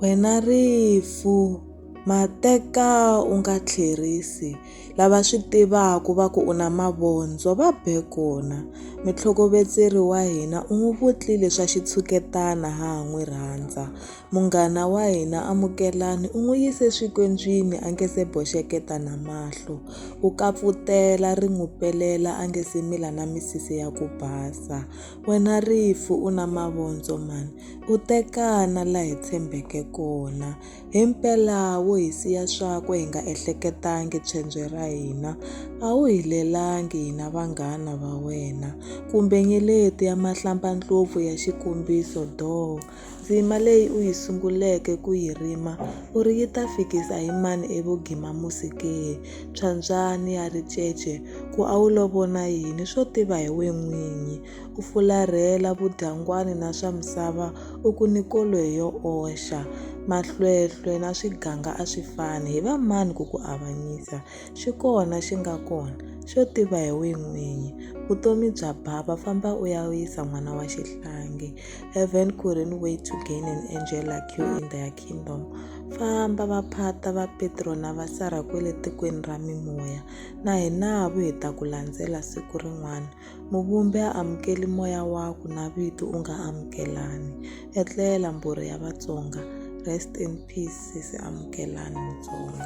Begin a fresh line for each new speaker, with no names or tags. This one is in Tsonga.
Wena rifu mateka u nga tlherisi lava swi tivaka va ku u na mavondzo va be kona mutlhokovetseri wa hina u n'wi vutlile swa xitshuketana ha ha n'wi rhandza munghana wa hina amukelani u n'wi yise swikondzwini a nga se boxeketa na mahlo u kapfutela ri n'wi pelela a nga se mila na misisi ya ku basa. Wena rifu u na mavondzo mani, u tekana la hi tshembeke kona. Himpela wo hi siya swakwe hi nga ehleketangi pshendzwe ra hina, a wu hi lelangi hina vanghana va wena, kumbe nyeleti ya mahlambaNdlopfu ya xikombiso doo. Ndzima leyi u yi sunguleke ku yi rima u ri yi ta fikisa hi mani evugimamusi ke? Phyambyani ya ricece ku a wu lo vona yini swo tiva hi we n'winyi? U fularhela vudyangwani na swa misava u ku ni koloyi yo oxa. Mahlwehlwe na swiganga a swi fani, hi va mani ku ku avanyisa? Xi kona xi nga kona, xo tiva hi we n'winyi. Vutomi bya bava, famba u ya yisa n'wana wa xihlangi. Heaven couldn't wait to gain an angel like you in their kingdom. Famba va phata va Petro na va Sara kwele tikweni ra mimoya. Na hina vu hi ta ku landzela siku rin'wana. Muvumbi a amukeli moya waku na vito u nga amukelani. Etlela mbhuri ya Vatsonga. Rest in peace sesi Amukelani Mutsonga.